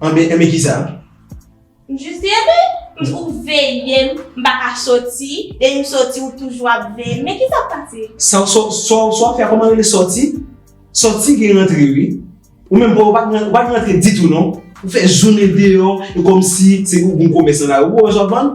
Anben, anben kisa? M jis di anben, ou veye m, m pa ka soti, depi m soti ou toujou ap veye m, men kisa k pase? Sa w, sa w, sa w fè a kòman rele soti? Soti gen rantre wi. Ou menm bon ou pa gen, ou pa gen rantre ditou non. Ou fè jounen deyò, e kòmsi se pou bon komès nan lari. Ou wè sa w ap vann?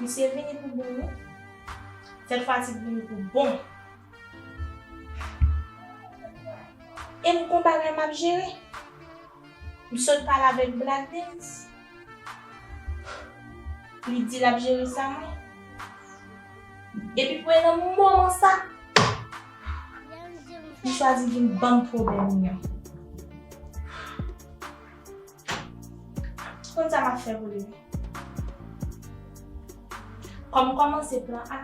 Misye vini pou bon wi. Sèt fatig vini pou bon. E m kon bagay m ap jere. M sot pale avèk Black Dens. Li di l ap jere sa mwen. Epi pou e nan moman sa, li chwazi vin ban m pwoblèm mwen. Ou konn sa map fè pou li wi. Kòm kòmanse plan A,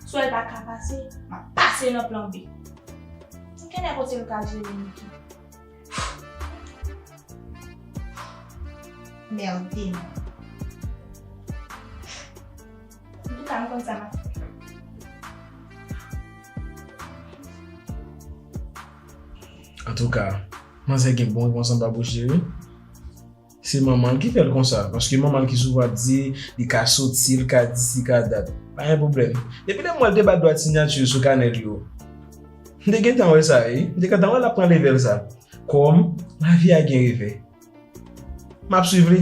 si w wè l pa ka pase, map pase nan plan B. Ou knnen kote l ka jere m tou. Merde non. Antouka m konn sa map fè. Antouka, Manzè gen bon konsan babouche wi. Se manmanl ki fèl konsa paske manmanl ki souvan ap di li ka soti li ka di si ka dat pa gen pwoblèm depi lèm wèl te bat dwat sinyati sou kanèl yo m te gentan wè sa wi m te gentan wè lap pran level sa kòm lavi a gen revè map swiv li.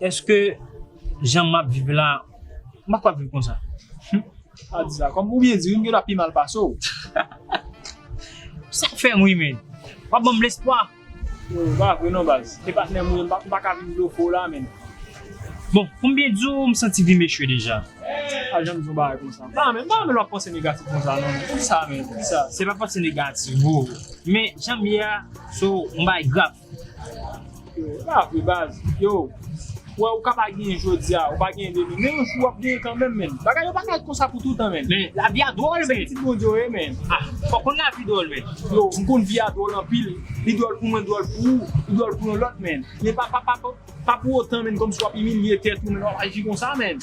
Eske jan map viv la mpa kapab viv konsa. Humm pa di sa kòm ou byen di wi m gen dwa pi mal pase w. Sak fèm ri menn. Wap banm lespwa. Yo e pa vre non baz. E patnèm ou ye m pa ka vin bloke w la menn. Bon pou m byen di w m santi vim echwe deja. Pa janm di yon bagay konsa. Pa menm pa menm wap panse negatif konsa non. Poukisa menm poukisa. Se pa panse negatif bro. Men janm ye a se yon bagay grav. Sa vre baz, yo, wè ou ka pa genyen jodi a, ou pa genyen demen, men yon jou wap genyen kanmenm men, bagay yo pa ka konsa pou toutan men. Men, lavi a dwòl men. Se pitit Bondye ou ye men. Ah, fòk konn lavi dwòl men. Yo, m konn vi a dwòl anpil, li dwòl pou mwen, dwòl pou ou, li dwòl pou yon lòt men, men pa pou otan men kòmsi wap imilye tèt ou men, wap aji konsa men.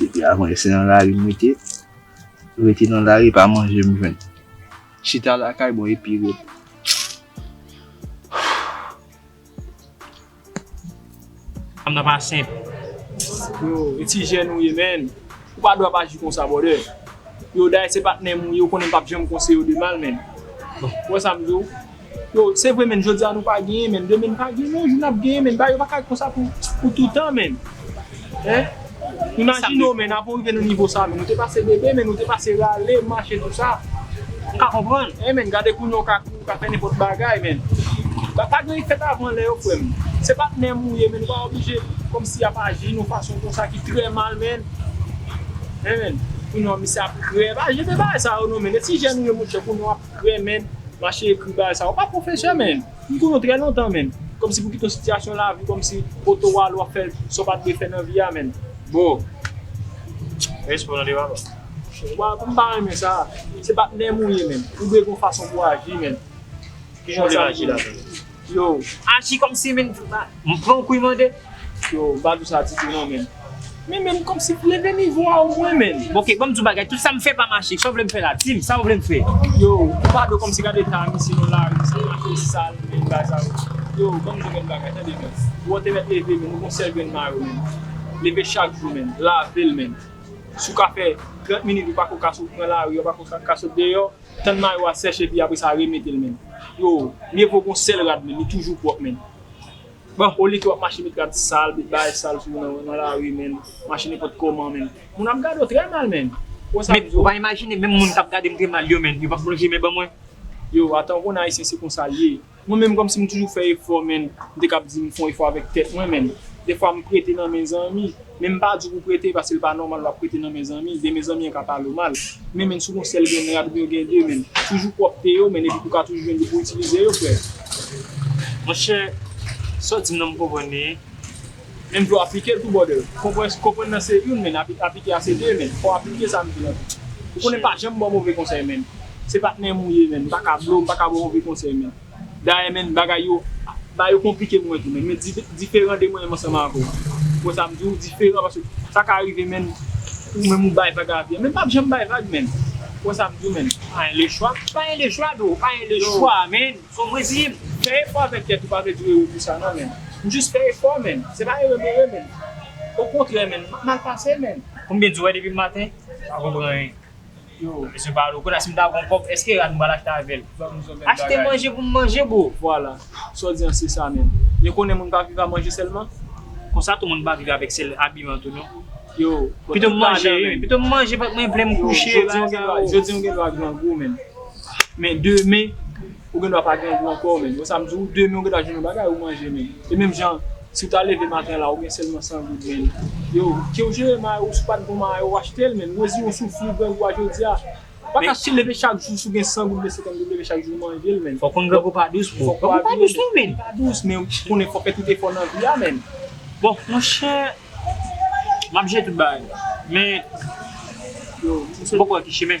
Depi avan se nan lari m rete, rete nan lari pa manje m jwenn. Chita lakay bon epi repo. Fanm nan pa senp. Bro, e ti jèn ou ye menn. Ou pa dwe ap aji konsa brother. Yo Day se patnèm ou ye ou konnen m pap janm konseye w de mal menn. Ou wè sa m di w. Yo, se vre menn jodi a nou pa genyen menn demen n pa genyen yon jou nap genyen menn. Bagay yo pa ka ret konsa pou toutan menn. Imajine w men nan pou rive nan nivo sa men nou te pase bebe men nou te pase rale mache tout sa ou ka konprann eh men gade kounye ou ka kouri ou ka fè nenpòt bagay men pa gen fèt avan lè yo frè m se patnè m ou ye men nou pa oblije kòmsi ap aji nou fason konsa ki trè mal men eh men kounye w misye ap krè pa jete bagay sa yo non men etijèn ou ye monchè kounye w ap krè men mache ekri bagay sa yo pa pwofesè men. M konnen w trè lontan men kòmsi pou w kite yon sitiyasyon lavi kòmsi kote w ale w ap fè sa w pa t dwe fè nan vi a menn boo. Respe w tande papa. Papa m pa renmen sa. Se patnè m ou ye menn. Ou dwe gen yon fason pou w aji menn. Kijan w dwe aji la menn? Yo. Aji kòmsi menn? M pran w kou mande? Yo pa dou sa ditou non menn. Men menn komsi leve nivo a o mwen menn. Bon ok banm diw bagay tout sam fè pa mache kisa w vlem fè la dim sa ou vlem fè. Yo ou pa do komsi gad eta misye nan lari sa mache sal menn bagay sa yo. Yo banm diw menn bagay tande menn wè w te mèt leve menn ou gon sèl grenn mayo menn leve chak jou menn lavel menn si w ka fè 30 minit ou pako ka sot pran lari ou pako ka sot deyò tann mayo a sèch epi apresa remetel menn. Yo mye vo gon sèl rad menn li toujou pwòp menn. Bon ou like wap mache met rad sal met bagay sal sou ou nan lari menn mache nenpòt kòman menn moun ap gadew trè mal menn wè sa Bzo. Ou pa imajine menm moun kap gadem trè mal yo menn yo pap lonje men ban mwen. Yow atan ou konn ayisyen se konsa l ye mwen menm kòmsi m toujou fè efò menn m te kab di m fon efò avèk tèt mwen menn defwa m prete nan men zanmi. Men m pa di pou prete paske l pa nòmal wap prete nan men zanmi, demen zanmi an ka pale w mal. Men men si w gon sèl gen men rad ou gen de men. Toujou pwòpte yo men epi pou ka toujou jwenn yo pou itilize yo frè. Monchè sa w di m nan m konprann li wi. Menm tou aplike l tou brother. Konprann nan se youn men aplike a se de men. Fò w aplike sa m di la tou. Ou konnen m pa janm bò move konsèy men. Se patnè m ou ye men. M pa ka blo w, m pa ka bò w move konsèy men. Dayè menn bagay yo ba yo konplike mwen tou menn men diferan de mwen menm ansanm avè w wè sa m di w diferan paske sa ka rive menn ou menm ou bay vag avi an men m pap janm bay vag menn ou wè sa m di w menn pa en le chwa pa en le chwa bro pa en le chwa menn fò m reziye m fè efò avèk tèt ou pa vle di w ere pou sa nan menn m jis fè efò menn se pa ere m ere menn okontrè menn m mal pase menn. Pou m byen di w wè depi maten m pa konpran anyen. Mesye pa alo. Kounya si m ta gon kòb eske rad m pral achte avèl? Achte manje pou m manje bro. Vwala. Sa w di an se sa menm. Yo konnen moun pa viv a manje sèlman. Konsa tou moun pa viv avèk sèl abiman tou non. Yo. Pito m manje wi. Pito m manje vant mwen plen m kouche. Yo jodi w gen dwa jodi w gen dwa grangou menn. Men demen ou gen dwa pa grangou ankò menn. Wè sa m di w? Demen ou gen dwa jwenn yon bagay ou manje menn. E menm jan. Si w ta leve maten la ou gen sèlman 100 goud men yo kiw jere mayo w si w pat bon mayo w achte l men mezi yon souf li grangou a jodi a ou pa ka leve chak jou si w gen 100 goud oubyen 50 goud leve chak jou manje l men fòk konn grangou pa dous bro grangou pa dous non men li pa dous men konnen fòk fè tout efò nan vi a men bon monchè map jere tout bagay men m poko wè ki chimen.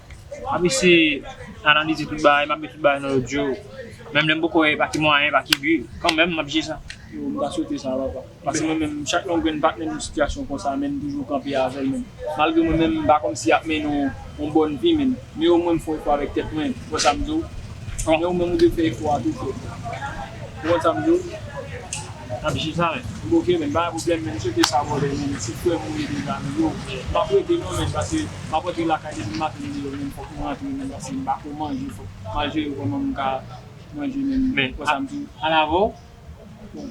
Map eseye analize tout bagay, map met tout bagay nan lòd yo. Menm lèm poko wè pa ki mwayen, pa ki bi, kanmèm map jije sa. Yo m ta swete sa papa. Pase mwen menm chak yon grenn patnè m yon sitiyasyon konsa menm toujou kanpe avèl menm malgre mwen menm m pa kòmsi yap mennen w yon bòn vi menm men omwen m fon efò avèk tèt mwen ou wè sam diw men ou menm ou dwe fè efò a tou frèm ou konn sam diw. Nap jina m ok menn pa gen problem menn cheke sa vòlè menn ti frèm ou ye deja menn yo pap rete non menn pase map rantre lakay depi maten deyò menn fòk m rantre menn pase m pako manje fòk manje yo kòman m ka manje menn konsa m di an avèw bon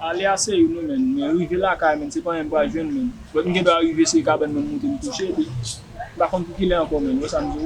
ale a se youn wi menn men rive lakay menn se panyen m pral jwenn menn bot m gendwa rive se kabann mwen m moute m kouche epi m pa konn pou kilè ankò menn wè sa m diw.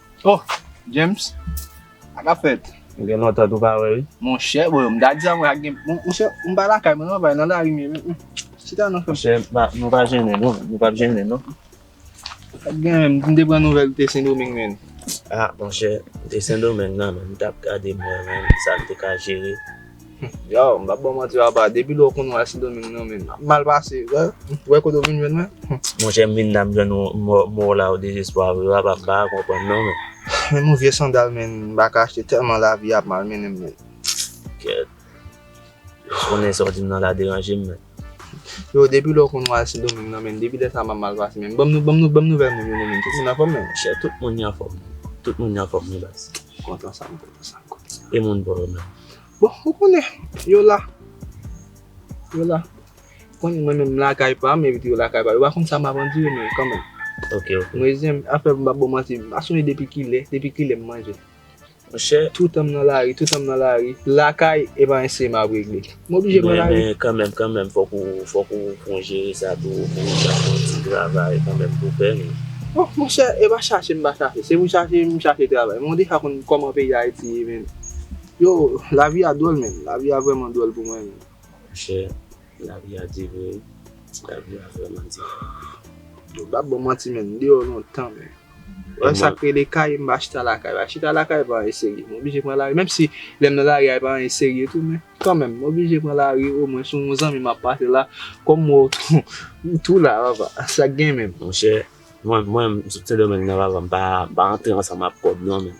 Oh James sa kap fèt. Ou gen lontan tou pa wè wi. Monchè bon m ta di sa mwen ak gen monchè m pa lakay mwen non bay nan lari m ye chita nan fè. Monchè nou pa jennen non nou pap jennen non. Pat gen menm m te pran nouvèl ou te sendomeng menn. Ah monchè m te sendomeng nan men m tap gade m wè menm sa m te ka jere. Yow m pap baw manti papa depi lè w konn wè sidomeng nan menm ap mal pase wè wè kote w vin jwenn mwen Monchè m vin la m jwenn mò w la o dezespwa vre papa m paka konprann non menm. Menm yon vye sandal menn m paka achte tèlman lavi a ap mal mennen m menn. Kèt. Yo s konnen sa w di m nan la deranje m menn. Yo depi lè w konn wal sendomeng nan menn depi lè sa map mal pase menn banm nou banm nouvèl moun yo nan menn tout moun anfòm nan menn chè tout moun yo anfòm tout moun yo anfòm wi baz m kontan sa m kontan sa m kontan sa e moun bò yo menm bon ou konnen yo la yo la ou konnen mwen menm m lakay pam epi tou yo lakay pa yo yo pa konn sa map andire men kanmenm ok ok m rezèm afè m pap baw manti m pa sonje depi kilè depi kilè m manje. Monchè. Toutan m nan lari, toutan m nan lari. Lakay, e pa ensi m ap regle. M oblije pran lari. Men kanmenm, kanmenm, fòk ou, fòk ou pran jere sa tou, ou fè yon ti travay kanmenm pou pè nou. O, monchè, e pa chache m pa chache. Se pou chache, m chache travay. Men ou deja konn kòman peyi Ayiti ye menm. Yo, lavi a dwòl menm. Lavi a vrèman dwòl pou mwen menm. Monchè. Lavi a di vre wi. Lavi a vreman di vre. Yo pa bon manti menn m deyò lontan menn. Wè sak rele kay m pa chita lakay. Pa chita lakay pa anyen serye. M oblije pran lari menm si lèm nan lari a epa anyen serye tou men kanmenm m oblije pran lari o mwen son zanmi map pase la kòm m wè w tou ou tou la papa sak gen menm. Monchè mwen menm m sot sendomeng nan papa m pa antre ansanm ak kòb non menn.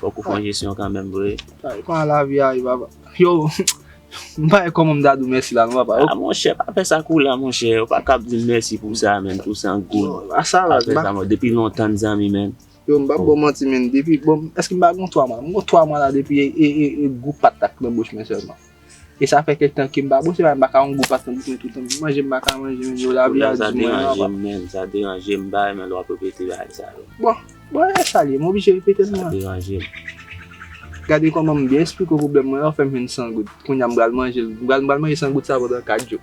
Fok ou fon jesyon kanmenm vre. Kay pa lavi a wi papa. Yow m pa wè koman m ta di w mèsi la non papa. A monchè pa fè sa kou la monchè ou pa kab di m mèsi pou sa menn pou san goud. Yow a sa la. Pa fè sa mò depi lontan n zanmi menn. Yow m pap ba w manti menn depi bon èske m pa gen yon 3 mwa. M gen yon 3 mwa la depi e gou pat ak nan bouch mwen sèlman. E sa fè kèk tan kem pa bwose paske m paka yon gwo paske m bezwen toutan bwè manje m paka manje menm yo lavi a di mwen anba. Pwoblèm sa deranjem menn, sa deranjem m pa renmen lè wap repete bagay sa yo. Bon, bon e sa l ye m oblije repetel mwen. Sa deranjem. Gade kòman m byen esplike w pwoblèm mwen la ou fèm jwenn 100 goud. Kounya m pral manjel, m pral manje 100 goud sa pandan 4 jou.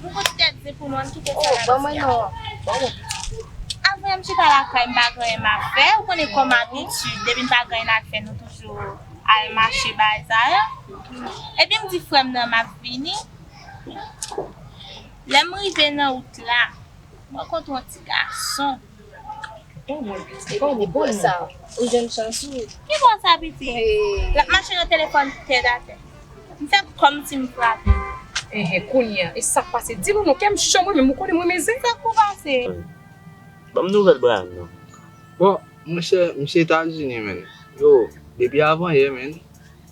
Pou kont tèt di pou nou ann kite sa nap di a. Avanyè m chita lakay m pa gen anyen map fè ou konnen kòm abitid depi n pa gen anyen nap fè nou toujou al mache bazar epi m di frè m nan map vini lè m rive nan wout la m rankontre yon ti gason. Epi bwa sa ou jwenn chans ou. Ki bwa sa piti? Lap mache nan telefòn tèt atè. M fè kòmsi m frape. Enhen kounya e sak pase di nou non kèm cho mwen menm ou konnen m renmen zen. Sak pou pase? Banm nouvèl Bryan non. Bon monchè misye etazini menn. Yo depi avan yè menn.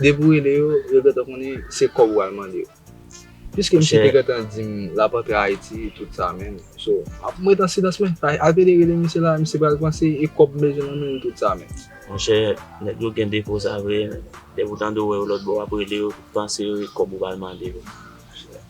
Depi ou rele yo, yo gentan konnen se kòb ou pral mande yo. Piske misye te gentan di m l ap antre Ayiti tout sa menm, so m ap ret an silans men. Ateli rele misye la, misye pral panse e kòb m bezwen nan men l tout sa menm. Monchè, nèg yo gen defo sa vre, depi ou tande ou wè yo lòtbò w ap rele yo, ou panse e kòb ou pral mande yo.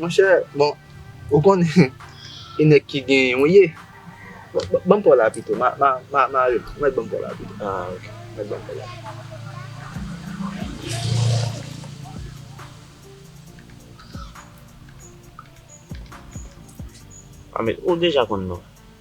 Monchè bon ou konnen ki nèg ki genyen ou ye. Banm paw la pito ma mare m mèt banm paw la pito ah ok mèt banm paw la. Mèt ou deja konn non.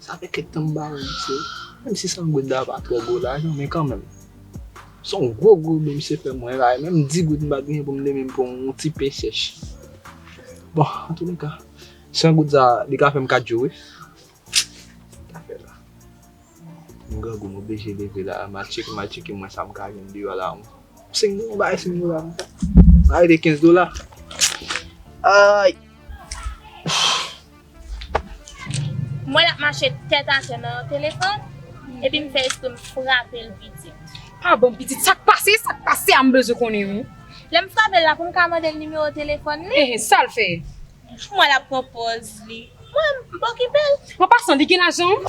Sa fè kèk tan m ba ou misye wi. Menm si san goud la pa twò gwo lajan men kanmenm. Son gwo gwo byen misye fè mwen la e menm 10 goud m pa t genyen pou m te menm pran yon ti pen chèch. Bon antouneka, san goud sa li ka fè m 4 jou wi. Sa fè la. M grangou m oblije leve la a. M al tcheke m al tcheke mwen sa m ka jwenn deyò la a. Sen goud, yon bagay sen goud la. Sa rete 15 dola. Ayy! Mwen la mache tèt atè nan yon telefòn epi m fè espre m frape l pitit. Ah bon pitit sa k pase, sa k pase a m bezwen konnen wi. Lè m frape l la pou m ka mande l nimewo telefòn li. Enhen sa l fè? Mwen la pran pòz li. Mwen m pa okipe l. An pasan li gen lajan?